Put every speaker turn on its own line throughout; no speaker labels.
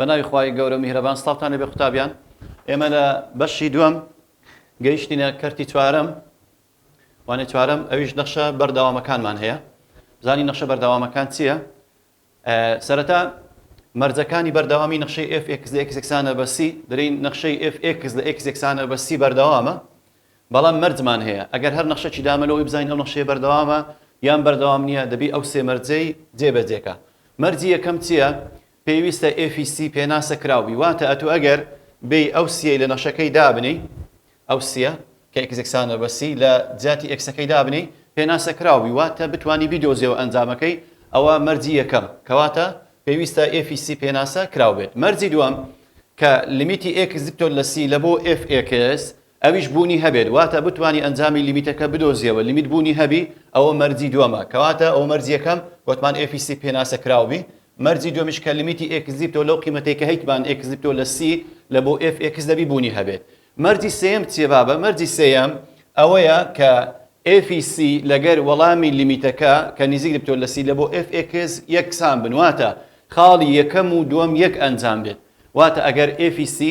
بەناوی خوای گەورە میهرەبان سڵاوتان لێبێ قوتابیان ئێمە لە بەشی دووەم گەیشتینە کەرتی چوارەم وانێ چوارەم ئەویش نەخشە بەردەوامەکانمان هەیە زانی نەخشە بەردەوامەکان چییە؟ سەرەتا مەرجەکانی بەردەوامی نەخشەی ئێف ئێکس لە ئێکس یەکسانە بە سی، دەلێین نەخشەی ئێف ئێکس لە ئێکس یەکسانە بە سی بەردەوامە، بەڵام مەرجمان هەیە ئەگەر هەر نەخشەکی دامە لەوەی بزانین ئەو نەخشەیە بەردەوامە یان بەردەوام نییە دەبی ئەو سێ مەرجەی جێبەجێکە. مەرجی یەکەم چییە؟ پێویستە ئێفی سی پێناسە کراو بی، واتە ئەتوو ئەگەر بێی ئەو سییەی لە نەخشەکەی دابنێی، ئەو سییە کە ئێکزێکسانە بە سی لە جیاتی ئێکسەکەی دابنێی پێناسە کراو بی واتە بتوانی بیدۆزیەوە ئەنجامەکەی ئەوە مەرجی یەکەم کەواتە پێویستە ئێفی سی پێناسە کراو بێت مەرجی دووەم کە لیمیتی ئێکس دکتۆر لە سی لە بۆ ئێف ئێکس ئەویش بوونی هەبێت واتە بتوانی ئەنجامی لیمیتەکە بدۆزیەوە لیمیت بوونی هەبی ئەوە مەرجی دووەمە کەواتە ئەو مەرجی یەکەم وتمان ئێفی سی پێناسە کراو بی مەرجی دووەمیش کە لیمیتی ئێکس دیپتۆ لەو قیمەتێکە هیتمان ئێکس دیپتۆ لە سی لە بۆ ئێف ئێکس دەبی بوونی هەبێت مەرجی سێیەم چیە بابە؟ مەرجی سێیەم ئەوەیە کە ئێفی سی لەگەر وەڵامی لیمیتەکە کە نیزیک دبتۆ لە سی لە بۆ ئێف ئێکس یەکسان بن واتە خاڵی یەکەم و دوەم یەک ئەنجام بێت واتە ئەگەر ئێفی سی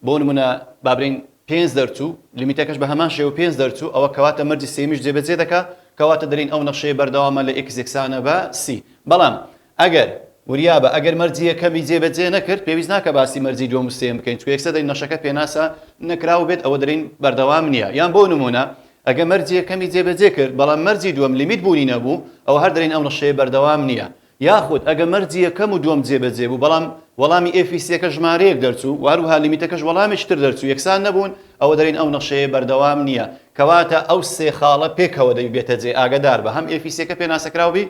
بۆ نمونە بابرین پێنج دەرچوو لیمیتەکەش بە هەمان شێوە پێنج دەرچوو ئەوە کەواتە مەرجی سێمیش جێبەجێ دەکا کەواتە دەلین ئەو نەخشەیە بەردەوامە لە ئێکس یەکسانە بە سی بەڵام ئەگەر، وریا بە، ئەگەر مەرجی یەکەمی جێ بە جێ نەکرد، پێویست ناکا باسی مەرجی دووەم و سێیەم بکەین، چونکە یەکسەر دەین نەشەکە پێناسە نەکراو بێت ئەوە دەلێین بەردەوام نیە، یان بۆ نمونە، ئەگە مەرجی یەکەمی جێ بە جێ کرد، بەڵام مەرجی دووەم لیمیت بوونی نەبوو، ئەوە هەر دەلێین ئەو نەشەیە بەردەوام نیە. یاخود، ئەگە مەرجی یەکەم و دووەم جێ بە جێ بوو، بەڵام وەڵامی ئێف ی سێکە ژمارەیەک دەرچوو، و هەروەها لیمیتەکەش وەڵامێکی تر دەرچوو یەکسان نەبوون، ئەوە دەلێین ئەو نەشەیە بەردەوام نیە. کەواتە ئەو سێ خاڵە پێکەوە دەبی بێتە جێ، ئاگەدار بە، هەم ئێف ی سێکە پێناسەکراو بی،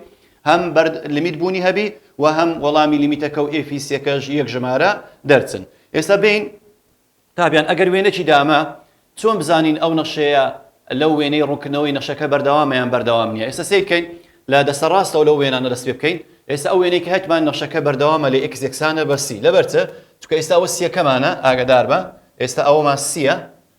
هەم بەرد لیمیت بوونی هەبی و هەم وەڵامی لیمیتەکەو ئێفی سێکەش یەک ژمارە دەرچن ئێستا بێین تابیان ئەگەر وێنەکی دامە چۆن بزانین ئەو نەخشەیە لەو وێنەی ڕوونکردنەوەی نەخشەکە بەردەوامە یان بەردەوام نییە ئێستا سەیر کەین لە دەستە ڕاستەوە لەو وێنانە دەست پێ بکەین ئێستا ئەو وێنەی کە هەتمان نەخشەکە بەردەوامە لە ئێکس یەکسانە بە سی لەبەرچە چکە ئێستا ئەوە سیەکەمانە ئاگدار بە ئێستا ئەوەمان سیە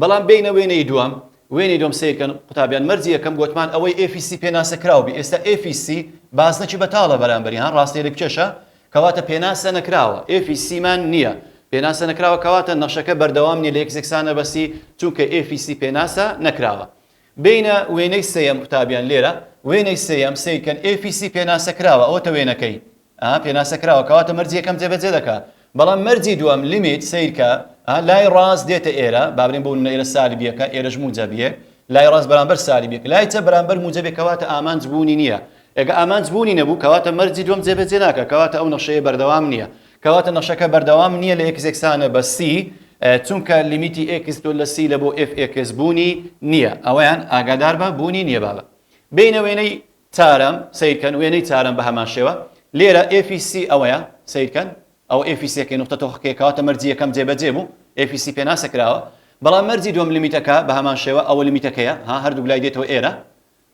بەڵام بێینە وێنەی دووەم، وێنەی دووەم سەیر کەن قوتابیان مەرجی یەکەم گۆتمان ئەوەی FEC پێناسە کراو بی ئێستا FEC بازنەکی بەتاڵە بەرامبەری ها ڕاستە لێک کێشە کەواتە پێناسە نەکراوە FEC مان نیە پێناسە نەکراوە کەواتە نەخشەکە بەردەوام نیە لە یەک زێکسانە بەسی چونکە FEC پێناسە نەکراوە بێینە وێنەی سێیەم قوتابیان لێرە وێنەی سێیەم سەیر کەن FEC پێناسە کراوە ئەوەتە وێنەکەی ئەها پێناسە کراوە کەواتە مەرجی یەکەم جێبەجێ دەکا بەڵام مەرجی دووەم لیمیت سەیرکە ئەها لای ڕاست دێتە ئێرە بابرێن بۆ نمونە ئێرە سالب یەکە ئێرەش موجەب یەک لای ڕاست بەرامبەر سالب یەک لای چەپ بەرامبەر موجەب یەک کەواتە ئامانج بوونی نییە ئێگە ئامانج بوونی نەبوو کەواتە مەرجی دووەم جێبەجێ ناکا کەواتە ئەو نەخشەیە بەردەوام نییە کەواتە نەخشەکە بەردەوام نییە لە ئێکس یەکسانە بە سی چونکە لیمیتی ئێکس تۆ لە سی لە بۆ ئێف ئێکس بوونی نییە ئەوەیان ئاگادار بە بوونی نییە بابە بینە وێنەی تارم، سەیرکەن وێنەی تارم بە هەمان شێوە. لێرە ئێفی سی ئەوەیە، سەیرکەن، ئەوە ئێفی سیەکەی نوختە تۆخەکەیە کەواتە مەرجی یەکەم جێبەجێ بوو، ئێفی سی پێناسە کراوە. بەڵام مەرجی دووەم لمیتەکە بە هەمان شێوە، ئەوە لمیتەکەیە، ها هەردووک لای دێتەوە ئێرە.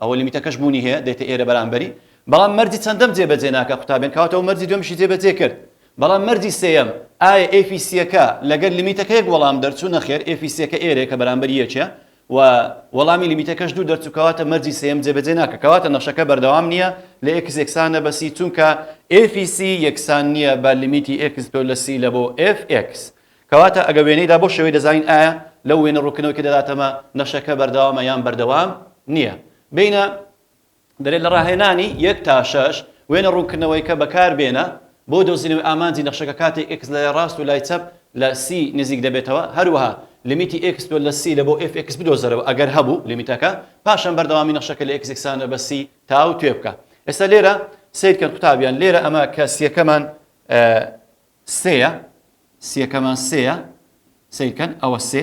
ئەوە لمیتەکەش بوونی هەیە، دێتە ئێرە بەرامبەری. بەڵام مەرجی چەندەم جێبەجێ ناکا قوتابیان، کەواتە ئەو مەرجی دووەمیشی جێبەجێ کرد. بەڵام مەرجی سێیەم، ئایا ئێفی سیەکە لەگەر لمیتەکە یەک وەڵام دەرچوو؟ نەخێر، ئێفی سیەکە ئێرەیە کە بەرامبەری یەکە. و وەڵامی لیمیتەکەش دوو دەرچوو کەواتە مەرجی سێیەم جێبەجێ ناکە کەواتە نەخشەکە بەردەوام نییە لە ئێکس یەکسانە بە سی چونکە ئێفی سی یەکسان نییە بە لیمیتی ئێکس تۆ لە سی لە بۆ ئێف ئێکس کەواتە ئەگە وێنەیدا بۆ شێوەی دەزانین ئایا لەو وێنە ڕووکنەوەی کە دەداتەمە نەخشەکە بەردەوامە یان بەردەوام نییە بینە دەلێت لە راهێنانی یەک تا شەش وێنە روونکردنەوەیکە بەکاربێنە بۆ دۆزینەوەی ئامانجی نەخشەکە کاتێک ئێکس لە لای راست و لای چەپ لە سی نزیک دەبێتەوە هەروەها لمیتی ئێکس دوو لە سی لە بۆ ئێف ئێکس بدۆزەرەوە ئەگەر هەبوو لمیتەکە پاشان بەردەوامی نەخشەکە لە ئێکس یەکسانە بە سی تاوتوێ بکە ئێستا لێرە سەیرکەن قوتابیان لێرە ئەمە کە سیەکەمان سێیە سیەکەمان سێیە سەیرکەن ئەوە سێ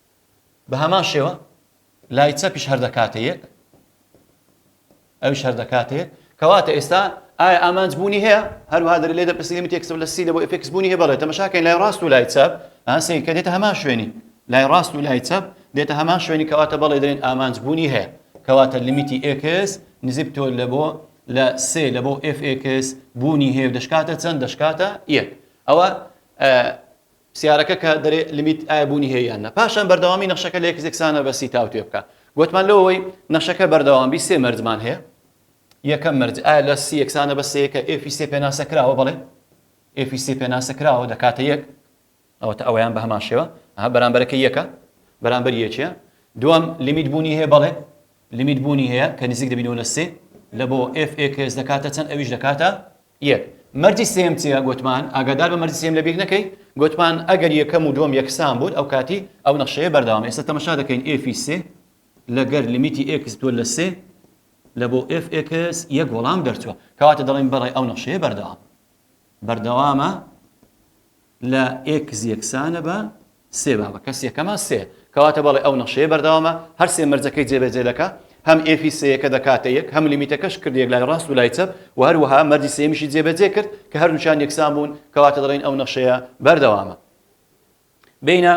بە هەمان شێوە لای چەپیش هەر دەکاتە یەک ئەوش هەر دەکاتە یەک کەواتە ئێستا ئایا ئامانج بوونی هەیە هەروها دەر لێ دەپرسی لە تێکسەر لە سی لە بۆ ئفکس بوونی هەیە بەڵێ تەمەشاکەین لای ڕاست و لای چەپ ئاسەی کە دێتە هەمان شوێنی لای ڕاست و لای چەپ دێتە هەمان شوێنی کەواتە بەڵێ دەێن ئامانج بوونی هەیە کەواتە لمیتی ئکس نزیب تۆ لە بۆ لە سێ لە بۆ FX بوونی هەیە دەشکاتە چەند دەشکاتە یەک ئەوە سیارەکە کە دەرێ لمیت ئایا بوونی هەیە یان نا پاشان بەردەوامی نەخشەکە لە یەکزێک سانە بە سی تاوتوێ بکە گوتمان لەوەی نەخشەکە بەردەوام بی سێ مەرجمان هەیە یەکەم مەرج ئایا لە سی یەکسانە بە سەیەکە ئێفی سێ پێناسە کراوە بڵێ ئێفی سێ پێناسە کراوە دەکاتە یەک ئەوەتە ئەویان بە هەمان شێوە ئەها بەرامبەرەکە یەکە بەرامبەر یەکە دوام لیمیت بوونی هەیە بەڵێ لیمیت بوونی هەیە کە نزیک دەبینەوە لە سێ لە بۆ FX دەکاتە چەند ئەویش دەکاتە یەک، مەرجی سێیەم چیە؟ گۆتمان، ئاگاداربە مەرجی سێیەم لەبیر نەکەی، گۆتمان، ئەگەر یەکەم و دوەم یەکسان بوون ئەوکاتی ئەو نەخشەیە بەردەوامە، ئێستا تەمەشا دەکەین ئێف ی سێ لەگەر لیمیتی ئێکس بتوە لە سێ لە بۆ ئێف ئێکس یەک وەڵام دەرچوە، کەواتە دەڵێین بەڵێ ئەو نەخشەیە بەردەوامە. بەردەوامە. لە ئێکس یەکسانە بە سێ با بە کەسی یەکەمە سێ کەواتە بەڵێ ئەو نەخشەیە بەردەوامە هەر سێ مەرجەکەی جێبەجێ دەکا هەم ئێفی سێیەکە دەکاتە یەک هەم لیمیتەکەش کرد یەک لای ڕاست و لای چەپ و هەروەها مەرجی سێمیشی جێبەجێ کرد کە هەردووچان یەکسان بوون کەواتە دەڵێن ئەو نەخشەیە بەردەوامە بینە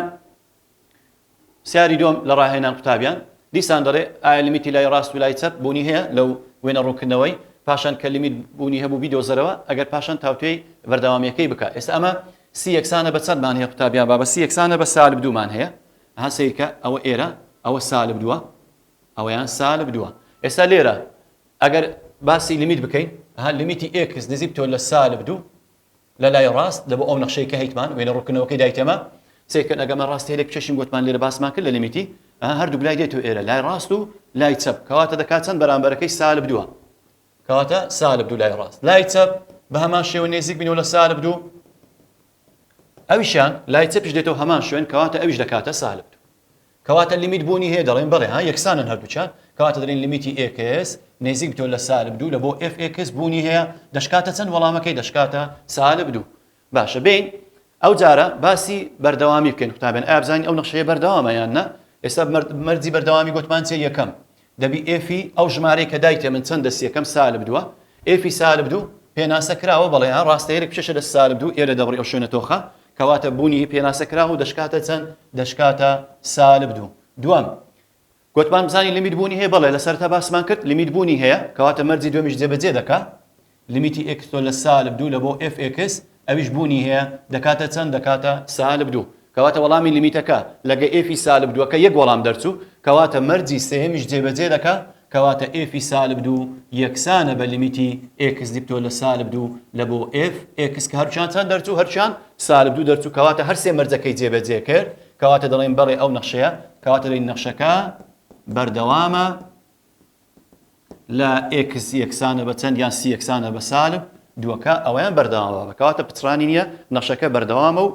پرسیاری دووەم لە ڕاهێنان قوتابیان دیسان دەڵێ ئایا لیمیتی لای ڕاست و لای چەپ بوونی هەیە لەو وێنە ڕوونکردنەوەی پاشان کە لیمیت بوونی هەبوو بیدۆزەرەوە ئەگەر پاشان تاوتوێی بەردەوامیەکەی بکە ئێستا ئەمە سی یەکسانە بە چەندمان هەیە قوتابیان با بە سی یەکسانە بە سالب دوومان هەیە ها سیرکە ئەوە ئێرە ئەوە سالب دووە ئەوەیان سالب دووە ئێستا لێرە ئەگەر باسی لیمیت بکەین ها لیمیتی ئێکس نزیک تۆ لە سالب دوو لە لای ڕاست لە بۆ ئەو نەخشەی کە هەیتمان وێنە ڕوونکردنەوەکەی دایتێمە سەیر کەن ئەگەر من ڕاستی هەلێک بچەشین گۆتمان لێرە باسمان کرد لە لیمیتی ئەها هەردووک لای دێتو ئێرە لای ڕاست و لای چەپ کەواتە دەکات چەند بەرامبەرەکەی سالب دووە کەواتە سالب دوو لای ڕاست لای چەپ بە هەمان شێوە نێزیک بینەوە لە سالب دوو ئەویشان لای چەپیش دێتەوە هەمان شوێن کەواتە ئەویش دەکاتە سالب دوو کەواتە لیمیت بوونی هەیە دەڵێین بەڵێ ها یەکسانن هەردووکیان کەواتە دەڵێین لیمیتی ئێکس نێزیک بتەوە لە سالب دوو لە بۆ ئێف ئێکس بوونی هەیە دەشکاتە چەند وەڵامەکەی دەشکاتە سالب دوو باشە بێین ئەو جارە باسی بەردەوامی بکەین قوتابێن ئابزانین ئەو نەخشەیە بەردەوامە یان نە ئێستا مەرجی بەردەوامی گوتمان چیە یەکەم دەبی ئێفی ئەو ژمارەی کە دایتێ من چەندە سیەکەم سالب دوە ئێفی سالب دوو پێناسە کراوە بەڵێ ها ڕاستە یەرێک بچێشە لە سالب دوو ئێرە دەبڕی ئەو شوێنە تۆخە کەواتە بوونی پێناسە کراوە و دەشکاتە چەند دەشکاتە سالب دوو دوام گوتمان بزانین لیمیت بوونی هەیە بەڵێ لەسەرتا باسمان کرد لیمیت بوونی هەیە کەواتە مەرجی دومیش جێبەجێ دەکا لیمیتی ئێکس تۆ لە سالب دوو لە بۆ ئێف ئێکس ئەویش بوونی هەیە دەکاتە چەند دەکاتە سالب دوو کەواتە وەڵامی لیمیتەکە لە گە ئێفی سالب دووەکە یەک وەڵام دەرچوو کەواتە مەرجی سێیەمیش جێبەجێ دەکا کەواتە ئێفی سالب دوو یەکسانە بە لیمیتی ئێکس دیپتۆ لە سالب دوو لە بۆ ئێف ئێکس کە هەرچیان چەند دەرچوو هەرچیان سالب دوو دەرچوو کەواتە هەر سێ مەرجەکەی جێبەجێ کرد کەواتە دەڵێن بەڵێ ئەو نەخشەیە کەواتە دەین نەخشەکە بەردەوامە لە ئێکس یەکسانە بە چەند یان سی یەکسانە بە سالب دووەکە ئەوەیان بەردەوامە کەواتە پچڕانی نییە نەخشەکە بەردەوامە و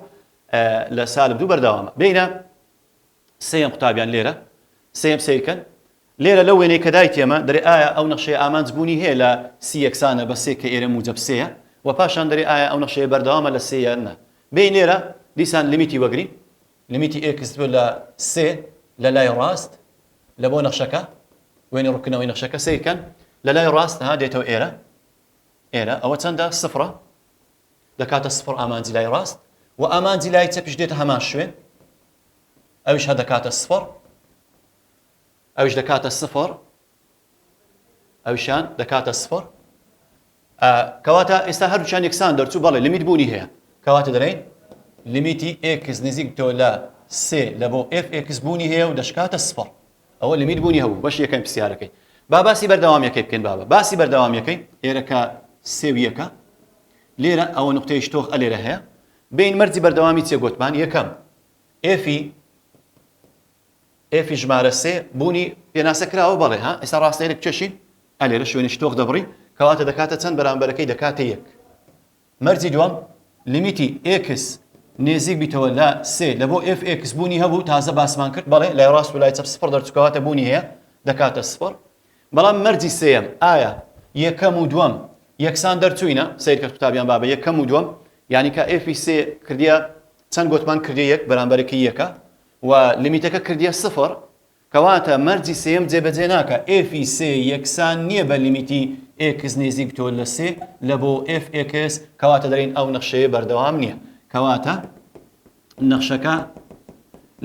لە سالب دوو بەردەوامە بینە سێم قوتابیان لێرە سێم سیرکەن لێرە لە وێنەی کە دایت ئێمە دەێ ئایا ئەو نەخشەیە ئامانج بوونی هەیە لە سی یەکسانە بە سێ کە ئێرە موجب سەیە و پاشان دەێ ئایا ئەو نەخشەیە بەردەوامە لە سێیان نە بین لێرە دیسان لمیتی وەگری لمیتی ئێکس لە سێ لە لای ڕاست لە بۆ نەخشەکە، وێنەی ڕووتکردنەوەی نەخشەکە سەیر کەن، لە لای ڕاست ها دێتەوە ئێرە، ئێرە ئەوە چەندە؟ سفرە، دەکاتە سفر ئامانجی لای ڕاست و ئامانجی لای چەپیش دێتە هەمان شوێن، ئەویش هەر دەکاتە سفر، ئەویش دەکاتە سفر، ئەویشیان دەکاتە سفڕ ئا کەواتە ئێستا هەردووچان یەکسان دەرچوو بەڵێ لمیت بوونی هەیە کەواتە دەڵێن لمیتی ئێکس نزیک تۆ لە سێ لە بۆ ئێف ئێکس بوونی هەیە و دەشکاتە سفڕ ئەوە لمیت بوونی هەبوو بەش یەکەم پرسیارەکەی با باسی بەردەوامیەکەی بکەین بابە باسی بەردەوامیەکەی ئێرەکە سێ و یەکە لێرە ئەوە نقطەیش تۆخ ئەلێرە هەیە بین مەرجی بەردەوامی چێ گۆتمان یەکەم ئێفی ئێفی ژمارە سێ بوونی پێناسە کراوە بەڵێ ها ئێستا ڕاستێنە کێشی ئە لێرە شوێنی شتۆخ دەبڕی کەواتە دەکاتە چەند بەرامبەرەکەی دەکاتە یەک مەرجی دووەم لیمیتی ئێکس نێزیک بیتەوە لە سێ لە بۆ ئێف ئێکس بوونی هەبوو تازە باسمان کرد بەڵێ لای ڕاست و لای چەپ سفر دەرچکەواتە بوونی هەیە دەکاتە سفر بەڵام مەرجی سێم ئایا یەکەم و دووەم یەکسان دەرچوینە سیرکە قوتابیان بابە یەکەم و دووەم یعنی کە ئێفی سێ کردە چەند گوتمان کردی یەک بەرامبەرەکەی یەکە و لیمیتەکە کردیە سفر کەواتە مەرجی سێیەم جێبەجێ ناکا ئێف ی سێ یەکسان نیە بە لیمیتی ئێکس نێزیک تۆ لە سێ لە بۆ ئێف ئێکس کەواتە دەرێن ئەو نەخشەیە بەردەوام نیە کەواتە نەخشەکە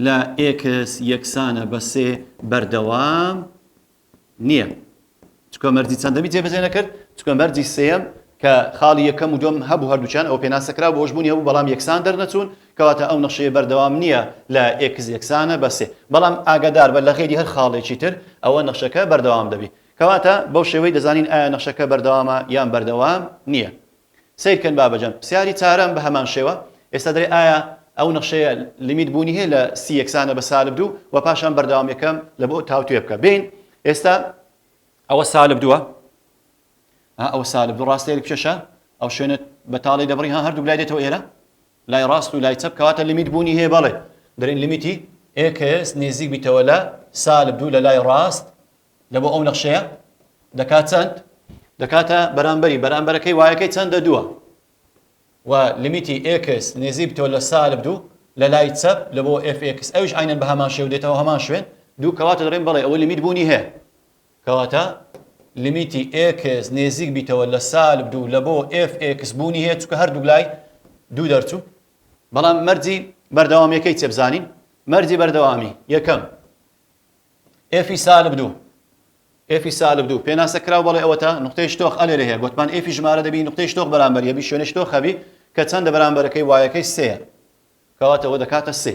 لە ئێکس یەکسانە بە سێ بەردەوام نیە چکە مەرجی چەندەمی جێبەجێ نەکرد چکە مەرجی سێیەم کە خاڵی یەکەم و دوم هەبوو هەردووکیان ئەو پێناسە کرا بۆش بوونی هەبوو بەڵام یەکسان دەرنەچوون کەواتە ئەو نەخشەیە بەردەوام نیە لە ئێکس یەکسانە بە سێ بەڵام ئاگاداربە لە غەیری هەر خاڵێکی تر ئەوە نەخشەکە بەردەوام دەبی کەواتە بەو شێوەی دەزانین ئایا نەخشەکە بەردەوامە یان بەردەوام نیە سەیر کەن بابە جان پسیاری چارەم بەهەمان شێوە ئێستا دەرێ ئایا ئەو نەخشەیە لیمیت بوونی هەیە لە سی یەکسانە بە سالب دوو وە پاشان بەردەوام یەکەم لە بۆ تاوتوێ بکە بێین ئێستا ئەوە سالب دووە ها ئەوە سالب دوو ڕاستەیە بچێشە ئەو شوێنە بەتاڵی دەبڕی ها هەردوو لای دێتەوە ئێرە لای ڕاست و لای چەپ کەواتە لیمیت بوونی هەیە بەڵێ دەرین لیمیتی ئێکس نێزیک بیتەوە لە سالب دوو لە لای ڕاست دەبۆ ئەو نەخشەیە دەکات چەند دەکاتە بەرامبەری بەرامبەرەکەی وایەکەی چەندە دووە و لمیتی ئکس نێزیب تۆ لە سالب دوو لە لای چەپ لە بۆ FX ئەوش عینەن بە هەمان شێو دێتەوە هەمان شوێن دوو کەواتە دەڵێن بەڵێ ئەوە لمیت بوونی هەیە کەواتە لمیتی ئکس نێزیک بیتەوە لە سالب دوو لە بۆ FX بوونی هەیە چکە هەردوو لای دوو دەرچوو بەڵام مەرجی بەردەوامیەکەی چێبزانین مەرجی بەردەوامی یەکەم ئێفی سالب دوو ئێفی سالب دوو پێناسە کراو بەڵێ ئەوەتا نقطەی شتۆخ ئەلێرە هەیە گوتمان ئێفی ژمارە دەبی نقطەی شتۆخ بەرامبەر یەبی شوێنە شتۆخ هەبی کە چەندە بەرامبەرەکەی وایەکەی سێە کەواتەوە دەکاتە سێ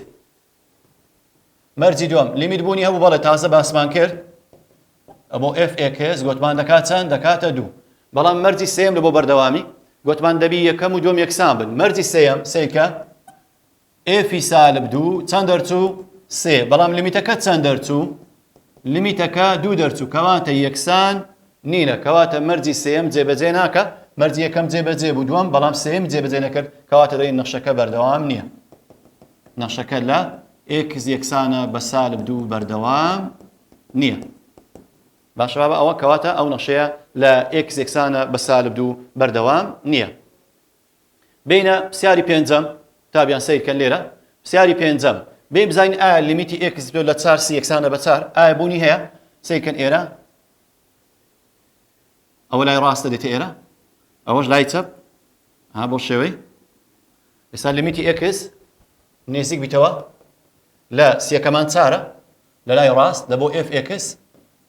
مەرجی دوم لیمیت بوونی هەبوو بەڵێ تازە باسمان کرد ئەبۆ ئێف ئێکس گوتمان دەکات چەند دەکاتە دوو بەڵام مەرجی سێم لە بۆ بەردەوامی گوتمان دەبی یەکەم و دوم یەکسان بن مەرجی سێم سێکە ئێفی سالب دوو چەند دەرچوو سێ بەڵام لمیتەکە چەند دەرچوو لمیتەکە دوو دەرچوو کەواتە یەکسان نینە کەواتە مەرجی سێم جێبەجێ ناکە مەرجی یەکەم جێبەجێ بوو دووەم بەڵام سێم جێبەجێ نەکرد کەواتە دەی نەخشەکە بەردەوام نییە نەخشەکە لە ئێکس یەکسانە بە سالب دوو بەردەوام نییە باشەوە بە ئەوە کەواتە ئەو نەخشەیە لە ئێکس یەکسانە بە سالب دوو بەردەوام نییە بێینە پسیاری پێنجەم تا بیان سیر کەن لێرە پسیاری پێنجەم بێ بزین ئایا لیمیتی ئێکس بێ لە چار سی یەکسانە بە چار ئایا بوونی هەیە سیرکەن ئێرە ئەوە لای ڕاستە دێتە ئێرە ئەوەش لای چەپ ها بۆ شێوەی ئێستا لیمیتی ئێکس نێزیک بیتەوە لە سیەکەمان چارە لە لای ڕاست لە بۆ ئف ئێکس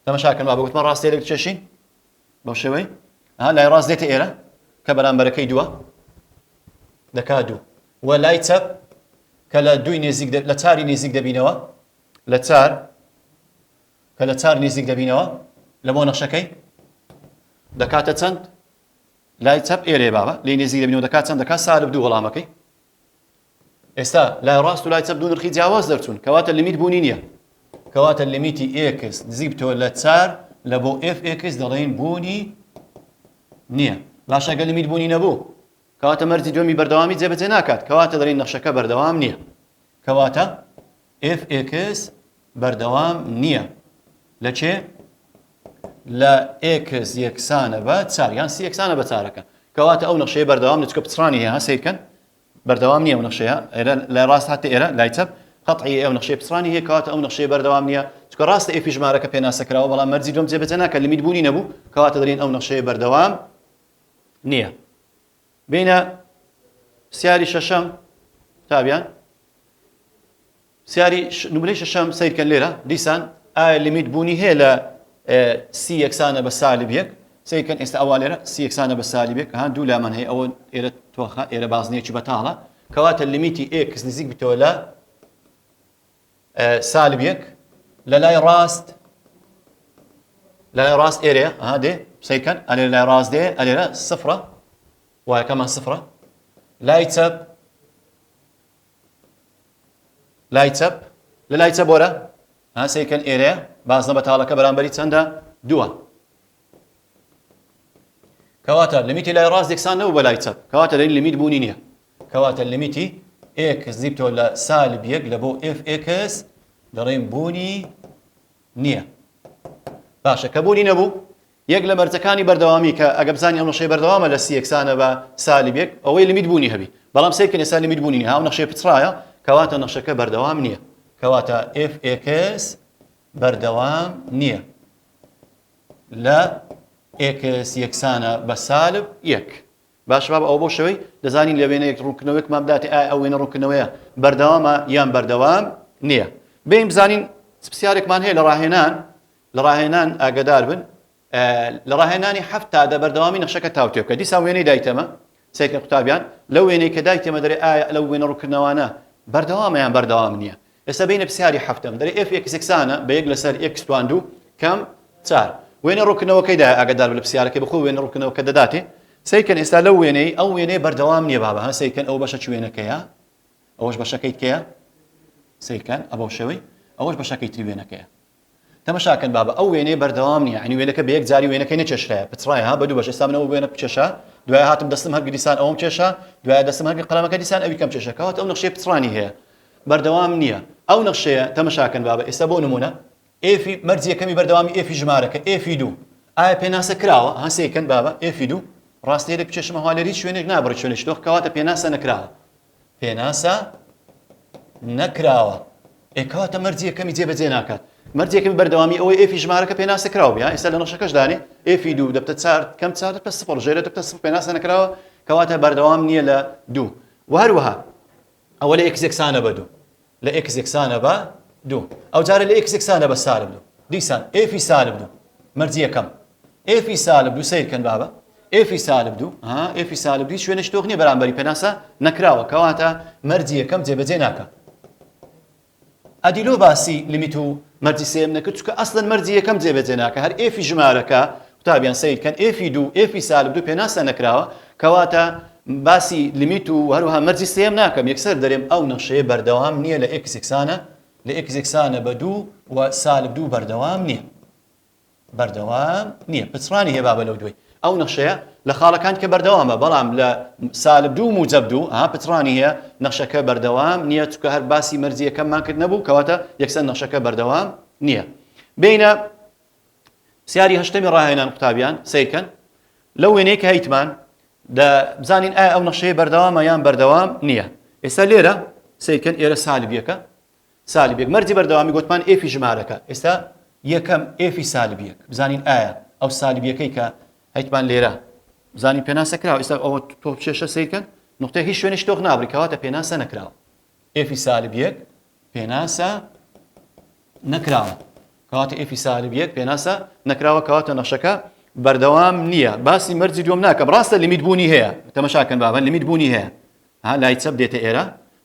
تەمەشاکەن با بگوتمە ڕاستێک چێشین بەو شێوەی ها لای ڕاست دێتە ئێرە کە بەرامبەرەکەی دووە دەکا دوو و لای چەپ کە لە دووی نێزیک لە چاری نێزیک دەبینەوە لە چار کە لە چار نێزیک دەبینەوە لە بۆ نەخشەکەی دەکاتە چەند لای چەپ ئێرێ بابە لێ نێزیک دەبینەوە دەکات چەند دەکات سالب دوو وەڵامەکەی ئێستا لای ڕاست و لای چەپ دوو نرخی جیاواز دەرچوون کەواتە لیمیت بوونی نییە کەواتە لیمیتی ئێکس نزیک بتەوە لە چار لە بۆ ئێف ئێکس دەڵێین بوونی نییە باشە گە لیمیت بوونی نەبوو کەواتە مەرجی دومی بەردەوامی جێبەجێ ناکات کەواتە دەڵێن نەخشەکە بەردەوام نییە کەواتە ئێف ئێکس بەردەوام نییە لە چێ لە ئێکس یەکسانە بە چاریان سی یەکسانە بە چارەکە کەواتە ئەو نەخشەیە بەردەوام نچکە پچڕانی هەیە سیرکەن بەردەوام نیە ئەو نەخشەیە ئێرە لای ڕاست هاتە ئێرە لای چەپ قەتعی ئەو نەخشەی پچڕانی هەیە کەواتە ئەو نەخشەیە بەردەوام نیە چونکە ڕاستە ئێفی ژمارەکە پێناسە کراوە بەڵام مەرجی دووەم جێبەجێ ناکات لیمیت بوونی نەبوو کەواتە دەلێن ئەو نەخشەیە بەردەوام نیە بینە پرسیاری شەشەم تابیان پرسیاری نمرەی شەشەم سەیرکەن لێرە دیسان ئایا لیمیت بوونی هەیە لە سی یەکسانە بە سالب یەک سەیرکەن ئێستا ئەوا لێرە سی یەکسانە بە سالب یەک هەان دوو لامان هەیە ئەوە ئێرە تۆخە ئێرە بازنەیەکی بەتاڵە کەواتە لیمیتی ئێکس نزیک بتەوە لە سالب یەک لە لای ڕاست لە لای ڕاست ئێرەیە ئەها دێ سەیرکەن ئەلێ لای ڕاست دێ ئەلێرە سفرە وایەکەمان سفرە لای چەپ لای چەپ لە لای چەپ وەرە ها سەیرکەن ئێرەیە بازنە بەتاڵەکە بەرامبەری چەندە دووە کەواتە لمیتی لای ڕاست یەکسان نەبوو بە لای چەپ کەواتە لەین لمیت بوونی نییە کەواتە لمیتی ئێکس دیبتۆ لە سالب یەک لە بۆ ئف ئێکس دەڵێن بوونی نییە. باشە کە بوونی نەبوو، یەک لە مەرجەکانی بەردەوامی کە ئەگە بزانین ئەو نەخشەیە بەردەوامە لە سی یەکسانە بە سالب یەک، ئەوەی لیمیت بوونی هەبی. بەڵام سەیر بکەن ئێستا لیمیت بوونی نییە، ها ئەو نەخشەیە پچڕایە، کەواتە نەخشەکە بەردەوام نییە. کەواتە ئێف ئێکس بەردەوام نییە لە ئێکس یەکسانە بە سالب یەک. باشە بابە ئەوە بەو شێوەی دەزانین لە وێنەیەک ڕوونکردنەوەیەکمان بداتێ ئایا ئەو وێنە ڕوونکردنەوەیە بەردەوامە یان بەردەوام نییە بێین بزانین پرسیارێکمان هەیە لە ڕاهێنان لە ڕاهێنان ئاگدار بن لە ڕاهێنانی هەفت تا دە بەردەوامی نەخشەکە تاوتێ بکە دیسان وێنەی دایتەمە سەیرکە قوتابیان لەو وێنەی کە دایتێمە دەرێ ئایا لەو وێنە ڕوونکردنەوانە بەردەوامەیان بەردەوام نییە ئێستا بینە پسیاری هەفتەم دەرێ ئێف ئێکس یەکسانە بە یەک لەسەر ئێکس توان دوو کەم چار وێنە ڕوونکردنەوەکەی دایە ئاگادار بە لە پسیارەکەی بەخۆ وێنە ڕوونکردنەوەکە دەداتێ سەیکەن ئێستا لەو وێنەی ئەو وێنەیە بەردەوام نییە بابە ها سەیکەن ئەو بەشە چ وێنەکەیە ئەوەش بەشەکەی کەیە سەیکەن ئە بەو شێوەی ئەوەش بەشەکەی تری وێنەکەیە تەمەشا کەن بابە ئەو وێنەیە بەردەوام نیە یانی وێنەکە بەیەک جاری وێنەکەی نەکێشرایە پچڕایە ها بەدوو بەش ئێستا من ئەوە وێنە بکێشا دوایە هاتم دەستم هەر گریسان ئەوم کێشا دوایە دەستم هەر قەلەمەکە دیسان ئەوی کەم کێشا کەواتە ئەو نەخشەی پچڕانی هەیە بەردەوام نییە ئەو نەخشەیە تەمەشا کەن بابە ئێستا بۆ نمونە ئێفی مەرج یەکەمی بەردەوامی ئێفی ژمارەکە ئێفی دوو ئایا پێناسە کراوە ها سەیرکەن بابە ئێفی دوو ڕاستەیەک بکێشمە هەوا لێر هیچ شوێنێک نابڕی شوێنێکی دۆخ کەواتە پێناسە نەکراوە پێناسە نەکراوە ئێ کەواتە مەرجی یەکەمی جێبەجێ ناکات مەرجی یەکەمی بەردەوامی ئەوەی ئێفی ژمارەکە پێناسە کراوە بیا ئێستا لە نەخشەکەش دانێ ئێفی دوو دەبتە چار کەم چار دەبتە سفر ژێرە دەبتە سفر پێناسە نەکراوە کەواتە بەردەوام نییە لە دوو و هەروەها ئەوە لە یەکسێکسانە بە دوو لە ئێکس یەکسانە بە دوو. ئەوجارە لە ئێکس یەکسانە بە سالب دوو. دیسان ئێفی سالب دوو. مەرجی یەکەم. ئێفی سالب دوو سەیر کەن بابە. ئێفی سالب دوو. ها ئێفی سالب دوو شوێنە شتۆک نییە بەرامبەری پێناسە نەکراوە کەواتە مەرجی یەکەم جێبەجێ ناکە. ئەدیلۆ باسی لیمیت و مەرجی سێم نەکرد چکە ئەسلەن مەرجی یەکەم جێبەجێ ناکە هەر ئێفی ژمارەکە قوتابیان سەیر کەن ئێفی دوو ئێفی سالب دوو پێناسە نەکراوە کەواتە باسی لیمیت و هەروەها مەرجی سێیەم ناکەم یەکسەر دەرێم ئەو نەخشەیە بەردەوام نییە لە ئێکس یەکسانە لە ئێکس یەکسانە بە دوو و سالب دوو بەردەوام نییە بەردەوام نییە پچڕانی هەیە بابە لەو دوای ئەو نەخشەیە لە خاڵەکان کە بەردەوامە بەڵام لە سالب دوو موجب دوو ها پچڕانی هەیە نەخشەکە بەردەوام نییە چکە هەر باسی مەرجیەکەمان کرد نەبوو کەواتە یەکسەر نەخشەکە بەردەوام نییە بینە پرسیاری هەشتەمی ڕاهێنان قوتابیان سیرکەن لەو وێنەیە کە هەیتمان بزانین ئایا ئەو نەخشەیە بەردەوامە یان بەردەوام نییە ئێستا لێرە سیرکەن ئێرە سالبیەکە سالبێک مەرجی بەردەوامی گوتمان ئێفی ژمارەکە ئێستا یەکەم ئێفی سالبیەک بزانین ئایا ئەو سالبیەکەی کە هەیتمان لێرە بزانین پێناسە کراوە ئێستا ئەوە تۆ چێشە سیرکەن نقطەی هیچ شوێنش تۆخ نابری کەواتە پێناسە نەکراوە ئێفی سالب یەک پێناسە نەکراوە کەواتە ئێفی سالب یەک پێناسە نەکراوە کەواتە نەخشەکە بەردەوام نییە باسی مەرجی دوم ناکەم ڕاستە لمیت بوونی هەیە تەمەشاکەن بابە لمیت بوونی هەیە ها لای چەپ دێتە ئێرە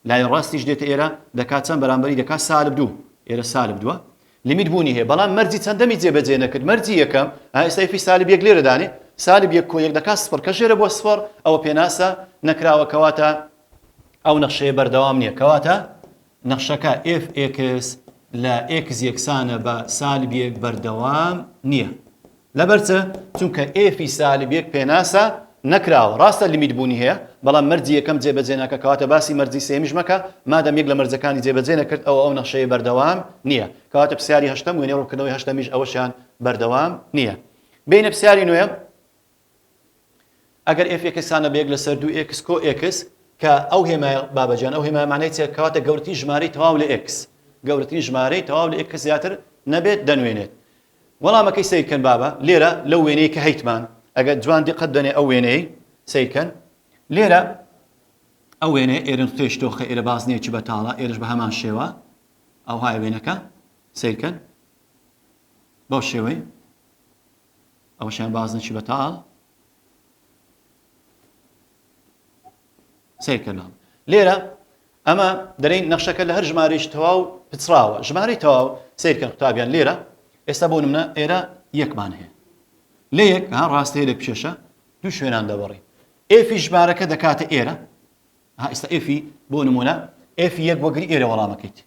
لای ڕاستیش دێتە ئێرە دەکات چەند بەرامبەری دەکات سالب دوو ئێرە سالب دووە لمیت بوونی هەیە بەڵام مەرجی چەندەمی جێبەجێ نەکرد مەرجی یەکەم ئێستای فی سالب یەک لێرەدانێ سالب یەک کۆ یەک دەکات سفر کە ژێرە بۆ سفر ئەوە پێناسە نەکراوە کەواتە ئەو نەخشەیە بەردەوام نییە، کەواتە نەخشەکە fx لە x یەکسانە بە سالب یەک بەردەوام نییە. لەبەر چ؟ چونکە f ی سالب یەک پێناسە نەکراوە. ڕاستە لیمیت بوونی هەیە، بەڵام مەرجی یەکەم جێبەجێ ناکات، کەواتە باسی مەرجی سێیەمیش مەکە، مادەم یەک لە مەرجەکانی جێبەجێ نەکرد، ئەوا ئەو نەخشەیە بەردەوام نییە. کەواتە پرسیاری هەشتەم، وێنەی ڕوونکردنەوەی هەشتەمیش ئەوەشیان بەردەوام نییە. بێینە پرسیاری نۆیەم. ئەگەر ئێف ئێکس هانە بە یەک لەسەر دوو ئێکس کۆ ئێکس کە ئەو هێمایە بابە جان ئەو هێمایە مانای چیە کەواتە گەورەترین ژمارەی تەواو لە ئێکس گەورەترین ژمارەی تەواو لە ئێکس زیاتر نەبێت دەنوێنێت وەڵامەکەی سیرکەن بابە لێرە لەو وێنەی کە هەیتمان ئەگەر جوان دیقەت دەنێ ئەو وێنەی سیرکەن لێرە ئەو وێنەیە ئێرن خێش تۆخە ئێرە بازنێکی بەتاڵە ئێرش بە هەمان شێوە ئەوهای وێنەکە سیرکەن بەو شێوەی ئەوەشیان باز نەچی بەتاڵ سیر کەناڵ لێرە ئەمە دەرین نەخشەکە لە هەر ژمارەش تەواو پچڕاوە ژمارەی تەواو سیرکە قوتابیان لێرە ئێستا بۆ منە ئێرە یەکمان هەیە لە یەک ها ڕاستەیە لە پیشێشە دوو شوێنان دەبڕی ئێفی ژمارەکە دەکاتە ئێرە ئێستا ئێفی بۆ نمونە ئێفی یەک وەگری ئێرە وەڵامەکەیت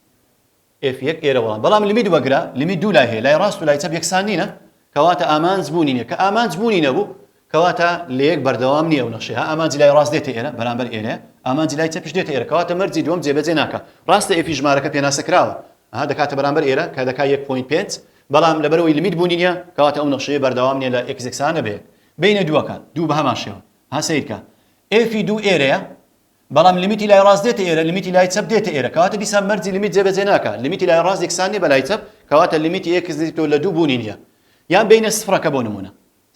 ئێف یەک ئێرە وەڵام. بەڵام لمیت وەگرە، لمیت دوو لای هەیە، لای ڕاست و لای چەپ یەکسان نینە، کەواتە ئامانج بوونی نیە، کە ئامانج بوونی نەبوو، کەواتە لە یەک بەردەوام نیە ئەو نەخشەیە، ها ئامانجی لای ڕاست دێتە ئێرە، بەرامبەر ئێرەیە، ئامانجی لای چەپیش دێتە ئێرە، کەواتە مەرجی دووەم جێبەجێ ناکا، ڕاستە ئێفی ژمارەکە پێناسە کراوە، ها دەکاتە بەرامبەر ئێرە، کە دەکا یەک پۆینت پێنج، بەڵام لەبەرئەوەی لمیت بوونی نیە، کەواتە ئەو نەخشەیە بەردەوام نیە لە ئێکس یەکسانە بە یەک. بەینە دووەکان، دوو بە هەمان شێوە، ها سەیرکە، ئێفی دوو ئێرەیە، بەڵام لیمیتی لای ڕاست دێتە ئێرە لیمیتی لای چەپ دێتە ئێرە کەواتە دیسان مەرجی لیمیت جێبەجێ ناکات لیمیتی لای ڕاست یەکسان نیە بە لای چەپ کەواتە لیمیتی ئێکس نزیک تۆ لە دوو بوونی نیە یان بینە سفرەکە بۆ نمونە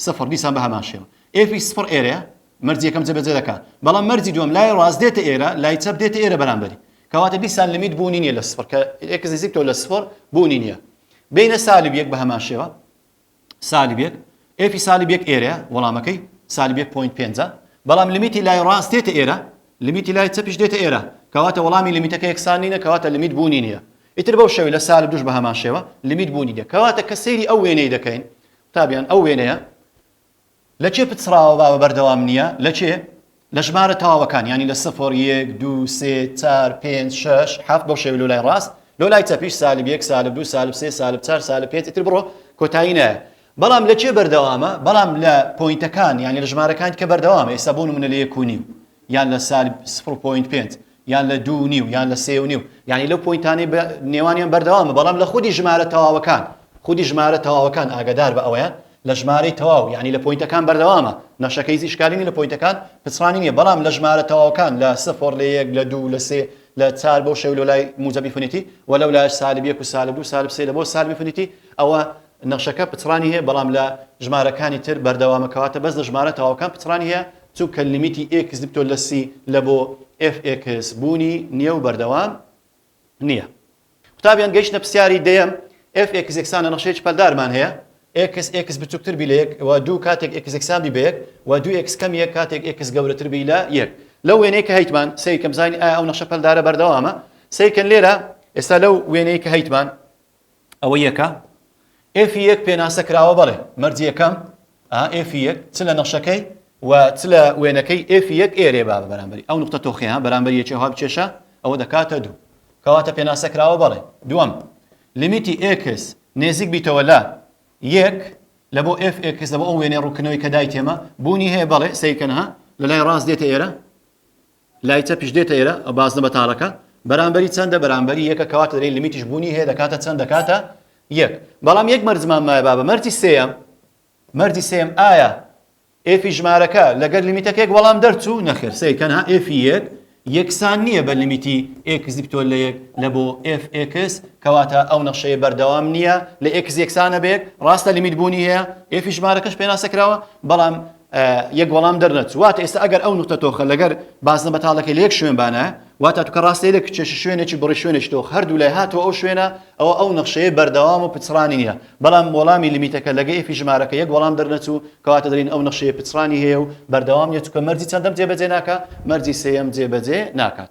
سفر دیسان بە هەمان شێوە ئێفی سفر ئێرەیە مەرجی یەکەم جێبەجێ دەکا بەڵام مەرجی دووەم لای ڕاست دێتە ئێرە لای چەپ دێتە ئێرە بەرامبەری کەواتە دیسان لیمیت بوونی نیە لە سفر کە ئێکس نزیک تۆ لە سفر بوونی نیە بینە سالب یەک بە هەمان شێوە سالب یەک ئێفی سالب یەک ئێرەیە وەڵامەکەی سالب یەک پۆینت پێنجە بەڵام لمیتی لای ڕاست دێتە ئێرە لمیتی لای چەپیش دێتە ئێرە کەواتە وەڵامی لمیتەکە یەکسان نینە کەواتە لمیت بوونی نییە ئیتر بەو شێوەی لە سالب دوش بە هەمان شێوە لمیت بوونی نییە کەواتە کە سەیری ئەو وێنەی دەکەین قوتابیان ئەو وێنەیە لە کێ پچڕاوە باوە بەردەوام نیە لە کێ؟ لە ژمارە تەواوەکان یانی لە سفر یەک دوو سێ چار پێنج شەش حەفت بەو شێوەی لۆ لای ڕاست لۆ لای چەپیش سالب یەک سالب دوو سالب سێ سالب چار سالب پێنج ئیتر بڕۆ کۆتایی نایە بەڵام لە کێ بەردەوامە بەڵام لە پۆینتەکان یانی لە ژمارەکان کە بەردەوامە ئێستا بۆ نمونە لە یەک و نیو یان لە سالب سفر و پۆینت پێنج یان لە دوو و نیو یان لە سێ و نیو یانی لەو پۆینتانەی بە نێوانیان بەردەوامە بەڵام لە خودی ژمارە تەواوەکان خودی ژمارە تەواوەکان ئاگادار بە ئەوەیە لە ژمارەی تەواو یانی لە پۆینتەکان بەردەوامە نەشەکەی هیچ ئیشکالی نیە لە پۆینتەکان پچڕانی نیە بەڵام لە ژمارە تەواوەکان لە سفر لە یەک لە دوو لە سێ لە چار بۆ شەو لە لای موجەبی فنیتی و لەو لایش سالب یەک و سالب دوو سالب سێ لە بۆ سالبی فنیتی ئەوە نەخشەکە پچڕانی هەیە بەڵام لە ژمارەکانی تر بەردەوامە کەواتە بەس لە ژمارە تەواوەکان پچڕانی هەیە چونکە لیمیتی ئێکس دکتۆر لە سی لە بۆ ئێف ئێکس بوونی نیە و بەردەوام نیە قوتابیان گەیشتە پرسیاری دەیەم ئێف ئێکس یەکسان لە نەخشەیەکی پەلدارمان هەیە ئێکس ئێکس بچووکتر بی لە یەک و دوو کاتێک ئێکس یەکسان بی بە یەک و دوو ئێکس کەم یەک کاتێک ئێکس گەورەتر بی لە یەک لەو وێنەیە کە هەیتمان سەیرکەم زانی ئایا ئەو نەخشە پەلدارە بەردەوامە سەیرکەن لێرە ئێستا لەو وێنەیە کە هەیتمان ئەوە یەکە ئێفی یەک پێناسە کراوە بەڵێ مەرجی یەکەم ئا ئێفی یەک چ لە نەخشەکەی و چ لە وێنەکەی ئێفی یەک ئێرێ با بە بەرامبەری ئەو نقطە تۆخیان بەرامبەر یەکی هەوا بچێشە ئەوە دەکاتە دوو کەواتە پێناسە کراوە بەڵێ دووەم لیمیتی ئێکس نێزیک بیتەوە لە یەک لە بۆ ئێف ئێکس لە بۆ ئەو وێنێ ڕووکنەوەی کە دای تێمە بوونی هەیە بەڵێ سیرکەنها لە لای ڕاست دێتە ئێرە لای چەپیش دێتە ئێرە ئەو بازنە بەتاڵەکە بەرامبەری چەندە بەرامبەری یەکە کەواتە دەرێی لمیتیش بوونی هەیە دەکاتە چەند دەکاتە یەک بەڵام یەک مەرجمان مایە بابە مەرجی سێیەم مەرجی سێم ئایا ئێفی ژمارەکە لەگەر لمیتەکێک وەڵام دەرچوو نەخێر سەی تەنها ئێفی یەک یەکسان نییە بە لمیتی ئێکس دیپتۆل لە یەک لە بۆ ئێف ئێکس کەواتە ئەو نەخشەیە بەردەوام نییە لە ئێکس یەکسانە بێک ڕاستە لمیت بوونی هەیە ئێفی ژمارەکەش پێناسەکراوە بەڵام یەک وەڵام دەرنەچوو واتە ئێستا ئەگەر ئەو نقطە تۆخە لەگەر بازنە بەتاڵەکە لە یەک شوێن بانە واتە توکە ڕاستێ لە کچێش شوێنێکی بڕی شوێنێک تۆخ هەردوو لای هاتووە ئەو شوێنە ئەوە ئەو نەخشەیە بەردەوام و پچڕانی نییە بەڵام وەڵامی لمیتەکە لەگە ئێفی ژمارەکە یەک وەڵام دەرنەچوو کەواتە دەین ئەو نەخشەیە پچڕانی هەیە و بەردەوام نیە چکە مەرجی چەندەم جێبەجێ ناکە مەرجی سێەم جێبەجێ ناکات